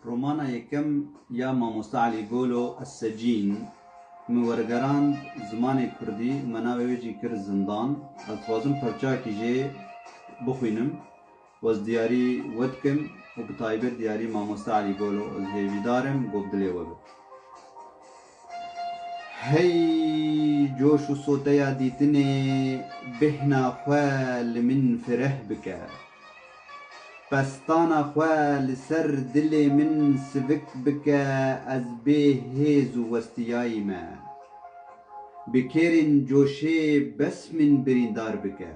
Romana yekem ya Mamosta Elî Golo Essecîn min wergerand zimanê kurdî û me navê wê jî kir Zindan. Ez dixwazim parçeyekî jê bixwînim û ez diyarî we dikim û bi taybet diyarî Mamosta Elî Golo. Ez hêvîdar im, gob dilê we be. Hey coş û soteya dîtinê bêhna xwe li min fireh bike. Pestana xwe li ser dilê min sivik bike ez bê hêz û westiyayî me. Bi kêrên coşê bes min birîndar bike.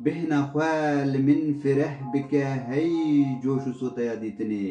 Bêhna xwe li min fireh bike hey coş û soteya dîtinê.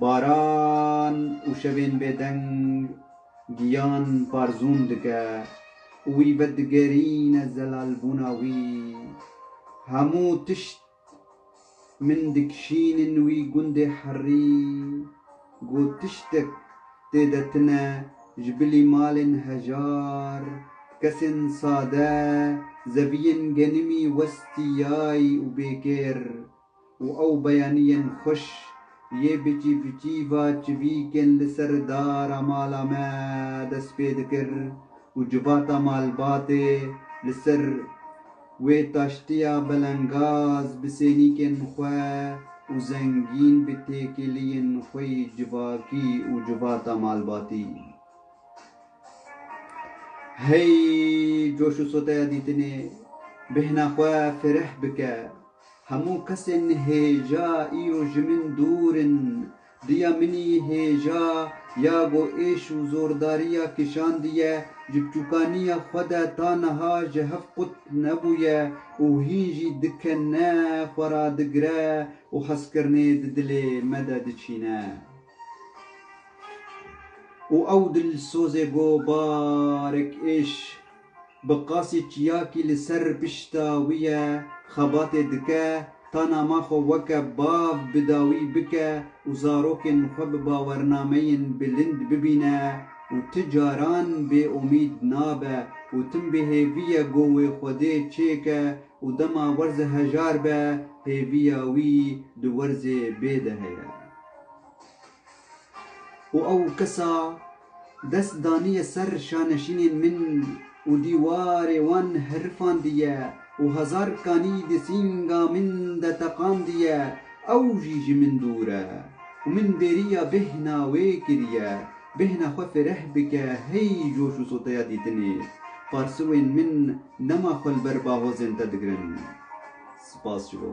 Baran û şevên bêdeng giyan parzûn dike û wî vedigerîne zelalbûna wî. Hemû tişt min dikişînin wî gundê herî ku tiştek tê de tune ji bilî malên hejar, kesên sade, zeviyên genimî westîyay û bêkêr. Û ew beyanîyên xweş yê bi çîvçîva çivîkên li ser dara mala me dest pê dikir û civata malbatê li ser wê taştiya belengaz bi sênîkên xwe û zengîn bi têkiliyên xwe yî civakî û civata malbatî hey coş û soteya dîtinê bêhna xwe fireh bike. Hemû kesên hêja îro ji min dûr in. Diya min î hêja ya go êş û zordariya kişandiye. Ji biçûkaniya xwe de ta niha ji hev qut nebûye û hîn jî dikene, xwe radigire û hezkirinê di dilê me de diçîne. Û ew dilsozê go barek êş Bi qasî çiyakî li ser pişta wî ye, xebatê dike, ta nama xwe weke bav bi dawî bike û zarokên xwe bi bawernameyên bilind bibîne û ti caran bêomîd nabe û tim bi hêviye go wê Xwedê çêke û dema werze hejar be hêviya wî di werzê bê de heye. Û ew kesa dest daniye ser şaneşînên min û dîwarê wan hirifandiye û hezar kanî di sînga min de teqandiye, ew jî ji min dûr e û min bêriya bêhna wê kiriye, bêhna xwe fireh bike hey coş û soteya dîtinê. Parsûên min dema xwe li ber bahozên te digirin. Spas ji bo.